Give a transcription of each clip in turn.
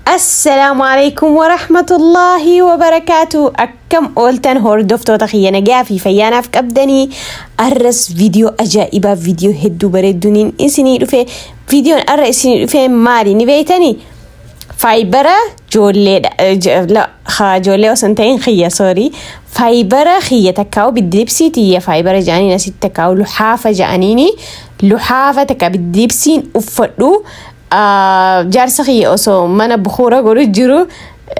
Assalaamu alaikum wa rahmatullahi wa barakaatu akkam ooltan hordoftoota kiyya nagaa fi fayyaanaaf qabdanii arras viidiyoo ajaa'ibaa viidiyoo hedduu bareedduuniin isinii dhufe viidiyoon arra isinii dhufe maali ni beeytanii Faayibara joolleedha. eh, jo- no, ha, Joollee osoo hin ta'in kiyya soorii. Faayibara kiyya takkaa'u biddibsii tiyya faayibara ja'aniin asitti takkaa'u luhaafa ja'aniini. Luhaafa takka biddibsiin uffadhu. Ah, Jaarsa kiyya osoo mana bukuura godhu jiru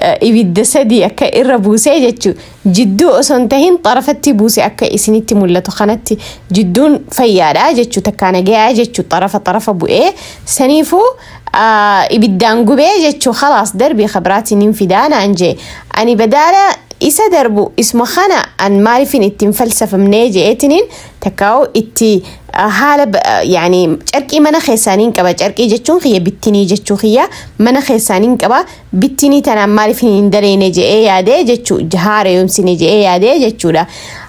eh, ibidda sadii akka irra buusee jechu jidduu osoo hin ta'in xarafatti buuse akka isinitti mul'atu kanatti jidduun fayyaadha jechu takkaa nagayaa jechu xarafa xarafa bu'ee saniifuu ibiddaan gubee jechu kalaas darbii kabiraatiin hin fidaa naan jee ani badaala isa darbu isma kana an maalifin itti hin falsafamnee jeetiniin takkaa'u itti haala yaani carqii mana keessaaniin qaba carqii jechuun kiyya bittinii jechuu kiyya mana keessaaniin qaba bittinii tanaan maalifin hin daleene je'ee yaadee jechuu haara yoomsine je'ee yaadee jechuudha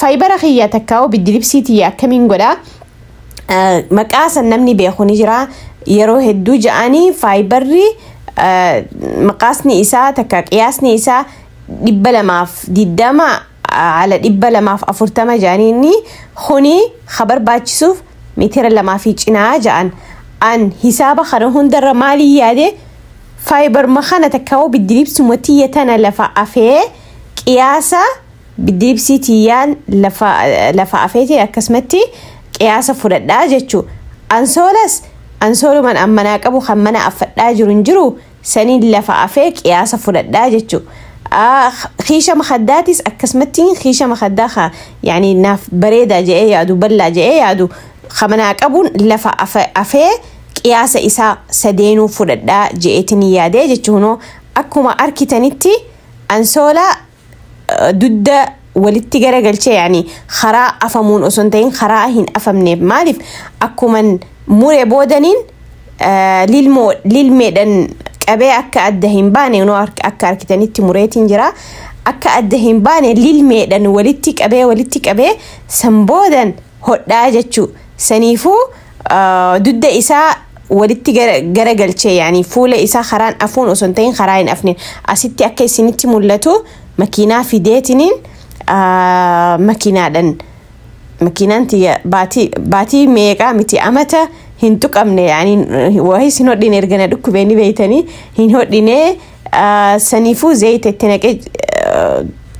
faayibara kiyya takkaa'u biddilibsii tiyya akkamiin godha maqaa san namni beeku ni jira yeroo hedduu ja'anii faayibarri maqaasni isaa takka qiyaasni isaa dhibba lamaaf diddama ala dhibba lamaaf afurtama ja'anii inni kuni ka barbaachisuuf mitira lamaa fi cinaa ja'an an hisaaba kana hundarra maalii yaade faayibarma kana takkaa'u biddilibsuma tiyya tana lafa afee qiyaasa diibsii tiyyaan lafa lafa afeete akkasumatti qiyaasa fudhadhaa jechuu ansoolas ansooluman ammanaa qabu kan mana affadhaa jiru hin jiru saniin lafa afee qiyaasa fudhadhaa jechuu kiisha makaddaatis akkasumatti kiisha makaddaa ka yaani naaf bareedaa je'ee yaadu ballaa je'ee yaadu ka manaa qabuun lafa afe- afee qiyaasa isaa sadeenuu fudhadhaa je'eetin yaadee jechuunoo akkuma arkitanitti Ansoolaa dudda walitti garagalchee yaani karaa afamuun osoo hin ta'in karaa hin afamneef maaliif akkuman mure boodaniin eh, lilmoo lilmeedhan qabee akka adda hin baane kunoo hark- akka harkitanitti mureetiin jira akka adda hin baane lilmeedhan walitti qabee walitti qabee san boodan hodhaa jechuu saniifuu Ah, dudda isaa walitti gara- garagalchee yaani fuula isaa karaan afuun osoo hin ta'in karaa hin afne asitti akka isinitti mul'atu makiinaa fideetiniin ah, makiinaadhan makiinaan tiyya baatii baatii meeqaa miti amata hin tuqamne yaani wahi sin hodhine erga na dhukkubee ni beeytanii hin hodhinee Saniifuu zayita itti naqee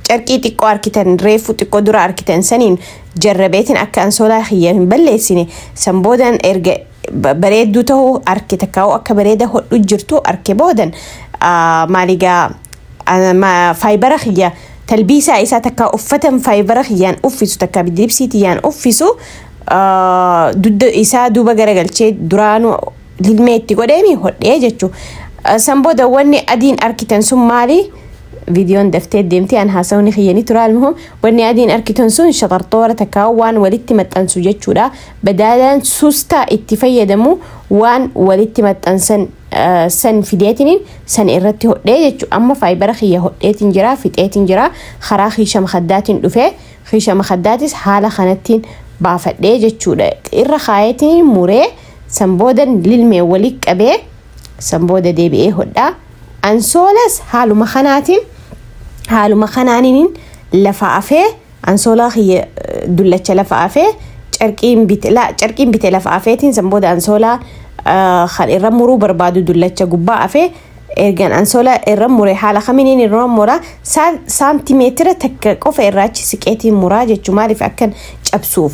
carqii xiqqoo arkitan reefuu xiqqoo dura arkitan saniin jarrabeetiin akka ansoolaa kiyya hin balleessine san boodan erga bareedduu ta'uu arke takkaa'uu akka bareeda hodhu jirtu arke boodan maaligaa faayibara kiyya talbiisaa isaa takka uffatan faayibara kiyyaan uffisu takka bidibsiitiyyaan uffisu dudda isaa duuba garagalchee duraanuu lilmee itti godheemi hodhee jechuu san booda wanni adiin arkitan sun maali viidiyoon daftee deemtee an haasawni kiyyanii tura almuhum wanni adiin arkitan sun shaxarxoora takkaa waan walitti maxxansu jechuudha badaalaan suustaa itti fayyadamu waan walitti maxxansan eh, san fideetiniin san irratti hodhee jechu amma faayibara kiyya hodheetiin jira fixeetiin jira karaa kiisha makaddaatiin dhufee kiisha makaddaatis haala kanattiin baafadhee jechuudha irra kaayeetiin muree San booda lilmee walitti qabee san booda deebi'ee hodhaa. Ansoolas haaluma kanaatiin haaluma kanaaniin lafa afee ansoolaa kiyya dullacha lafa afee carqiin bite la- carqiin bite lafa afeetiin san booda ansoolaa ah, kan irra muruu barbaadu dullacha gubbaa afee ergan ansoolaa irra mure haala kamiiniin irra mura Saa- saantimeetira takka qofa irraachi siqeetiin muraa jechuu maaliif akkan cabsuuf.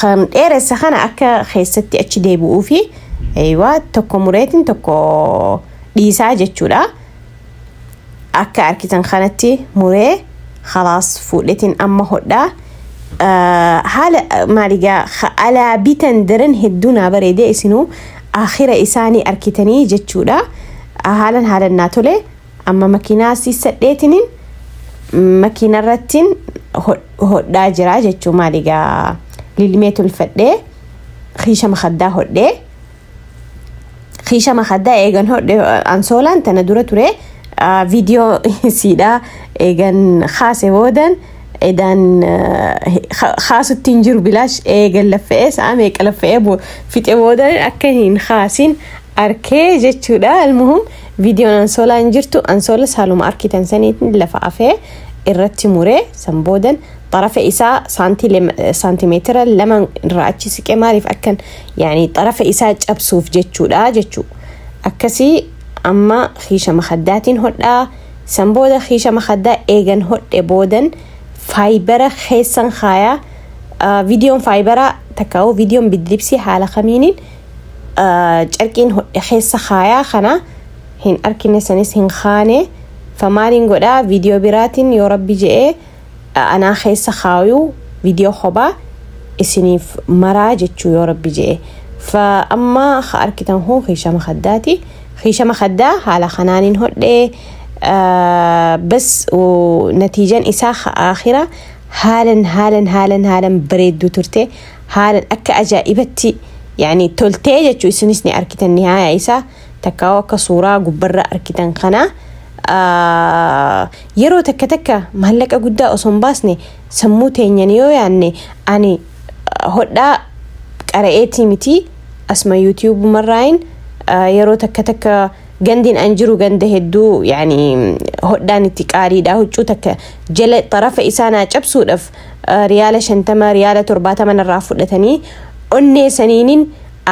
kan dheeressa kana akka keessatti achi deebi'uu fi eeywaa tokko mureetiin tokko dhiisaa jechuudha. Akka arkitan kanatti muree halaas fuudhetiin amma hodhaa. Ah, Haala ah, maaligaa ha- alaa bitan daran hedduu naa bareedee isinuu akhira isaanii arkitanii jechuudha. Ah, Haalan haalan naa tole. Amma makiinaa siissadheetinin makiinarrattin hodhaa jira jechuu maali gaa lilmee tolfadhee kiisha makaddaa hodhee kiisha makaddaa eegan hodhe ansoolaan tana dura ture viidiyoo siidhaa eegan kaase boodan edaan kaasutti hin jiru bilaash eegan laffa'ee sa'a meeqa laffa'ee fixee boodan akka hin kaasin arkee jechuudha almuhum Viidiyoon ansoolaa hin jirtu ansoolas haaluma arkitan saniitin lafa afee irratti muree san boodan xarafa isaa saantii lema- saantimeetira lama irraa achi siqe maaliif akkan yaani xarafa isaa cabsuuf jechuudha jechuu akkasii amma kiisha makaddaatiin hodhaa san booda kiisha makaddaa eegan hodhe boodan faayibara keessan kaayaa Ah, viidiyoon faayibaraa takkaa'uu viidiyoon bidilibsii haala kamiinin carqiin hodhe keessa kaayaa kana hin arkine sanis hin kaane famaaliin godhaa viidiyoo biraatiin yoo rabbi je'ee anaa keessa kaayuu viidiyoo kophaa isiniif maraa jechuu yoo rabbi je'e fa amma ka arkitan kun kiishama kaddaati kiishama kaddaa haala kanaanin hodhee bas natiijan isaa ka aakira haalan haalan haalan haalan bareedduu turte haalan akka ajaa'ibatti yani toltee jechu isinis ni arkitan nihaaya isaa takkaa'u akka suuraa gubbarra arkitan kana yeroo takka takka maallaqa guddaa osoo hin baasne sammuu teenyan yoo yaanne ani hodhaa qara'eetii miti asma yuutiyuubumarraayin yeroo takka takka Gandin an jiru ganda hedduu yani hodhaan itti qaaliidha huccuu takka jala xarafa isaa naa cabsuudhaaf eh, riyaala shantama riyaala torbaatama narraa fudhatanii onnee saniinin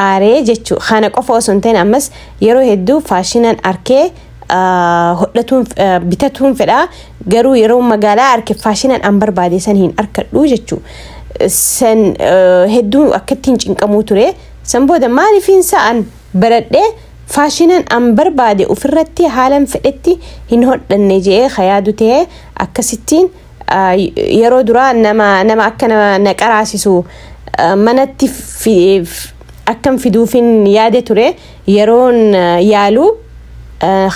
aaree jechuu kana qofa osoo hin ta'in ammas yeroo hedduu faashinan arkee eh, hodhatuun eh, bitatuun fedha garuu yeroo magaalaa arke faashinan an barbaade san hin arkadhu jechuu san eh, hedduu akkattiin cinqamuu ture san booda maaliif hin sa'an baradhee Faashinan an barbaade ufirratti haalan fedhetti hin hodhanne je'ee ka yaadu ta'e akkasittiin yeroo duraa nama nama akka nama na qaraasisu manatti akkan fiduufin yaade ture yeroon yaalu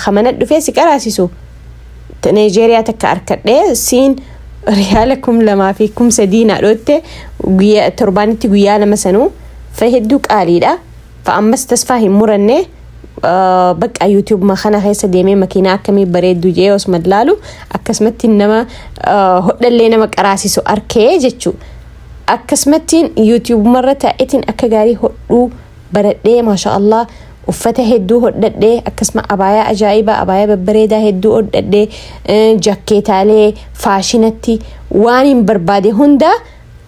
ka mana dhufee si qaraasisu Nigeria takka arkadhe siin riyaala kum lamaa fi kum sadii na dhootte guyyaa torbaanitti guyyaa lama sanuu fa hedduu qaaliidha. Fa ammas tasfaa hin muranne bakka yuutiyuubuma kana keessa deemee makiinaa akkamii bareeddu jee osuma laalu akkasumatti nama hodhallee nama qaraasisu arkee jechuu akkasumattiin yuutiyuubumarra taa'etiin akka gaarii hodhuu baradhee maasha allah uffata hedduu hodhadhee akkasuma abaayaa ajaa'ibaa abaayaa babbareedaa hedduu hodhadhee jakkeetaalee faashinatti waan hin barbaade hundaa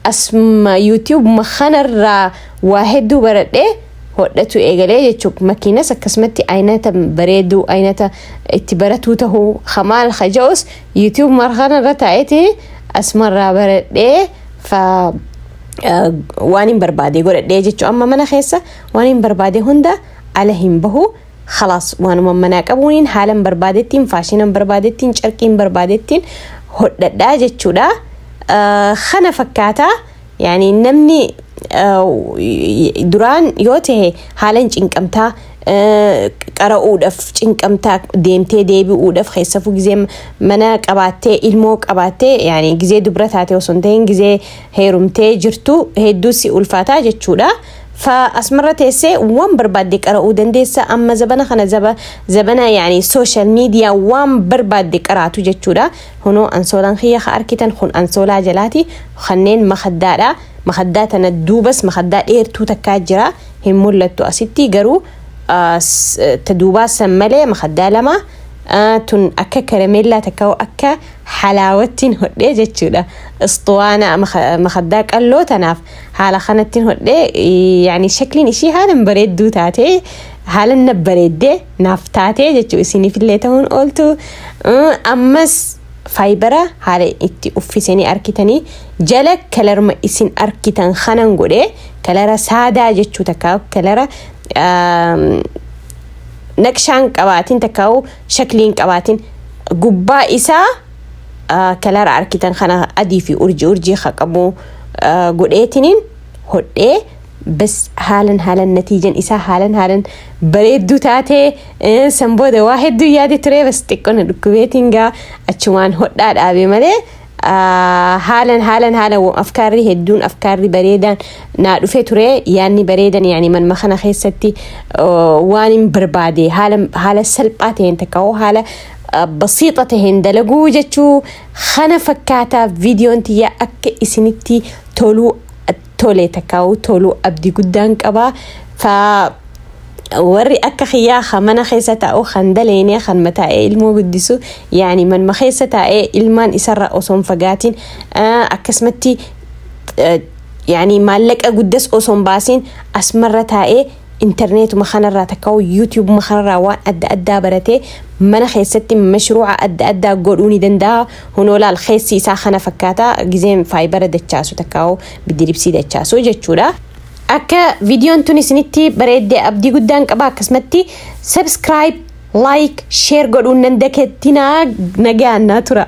Asuma YouTube ma kanarraa waa hedduu baradhee hodhachuu eegalee jechuudha. Makiinas akkasumatti aynata bareeduu aynata itti baratuu tahuu ka maal ka ja'us YouTube ma kanarra taa'eeti asumarraa baradhee fa eh, waan hin barbaade godhadhee jechuudha. Amma mana keessa waan hin barbaade hunda ala hin bahu. Khalaas waanuma manaa qabuuniin haalan barbaadettiin faashinan barbaadettiin carqiin barbaadettiin hodhadhaa jechuudha. Ah, Kana fakkaata yaani namni ah, duraan yoo ta'e haalan cinqamtaa ah, qara'uudhaaf cinqamtaa deemtee deebi'uudhaaf keessafuu gizee mana qabaattee ilmoo qabaattee yaani gizee dubra taate osoo hin ta'in gizee heerumtee jirtu hedduu si ulfaataa jechuudha. Fa asmarra teesse waan barbaadde qara'uu dandeessa amma zabana kana zaba zabana yaani social media waan barbaadde qaraatu jechuudha hunoo ansoolaan kiyya ka arkitan kun ansoolaa jalaati kanneen makaddaadha makaddaa tana duubas makaddaa dheertuu takkaa jira hin mul'attu asitti garuu ah, s- eh, ta duubaa san malee makaddaa lama ah, tun akka karameellaa takka akka halaawattiin hodhee jechuudha istuwaana maka- makaddaa qalloo tanaaf haala kanattiin hodhe yaani shakliin ishii haalan bareedduu taate haalan na bareedde naaf taate jechuu isiniifillee ta'uun ooltu ammas faayibara haala itti uffisanii arkitanii jala kalarma isin arkitan kanan godhe kalara saadaa jechuu takkaa kalara naqshaan qabaatiin takkaa shakliin qabaatiin gubbaa isaa kalaara arkitan kana adii fi urjii urjii ka qabu godheetiniin hodhee bas haalan haalan natiijan isaa haalan haalan bareedduu taatee san booda waa hedduu yaade turee bas xiqqoo na dhukkubeetiin gaa achumaan hodhaa dhaabe malee haalan haalan haalan afkaarri hedduun afkaarri bareedaan naa dhufe ture yaanni bareedan yaani manma kana keessatti waan hin barbaade haala salphaa ta'een takka hoo haala basiixa taheen dalaguu jechuu kana fakkaata viidiyoon tiyya akka isinitti toluu tole takkaa'u toluu abdii guddaan qaba fa warri akka kiyyaa kan mana keessa taa'u kan daleene kan mataa'ee ilmoo guddisu yaani manuma keessa taa'ee ilmaan isarraa osoo hin fagaatiin ah, akkasumatti eh, yaani maallaqa guddas osoo hin baasiin asmarra taa'ee interneetuma kanarraa takkaa'u yuutiyuubuma kanarraa waan adda addaa baratee mana keessatti mashruuca adda addaa godhuu ni danda'a. Hunoo laal keessi isaa kana fakkaata gizeen faayibara dachaasu takkaa'u bidiribsii dachaasu jechuudha. Akka viidiyoon tun isinitti bareedde abdii guddaan qaba akkasumatti subscribe, like, share godhuun nan dakeettinaa nagaan naa tura.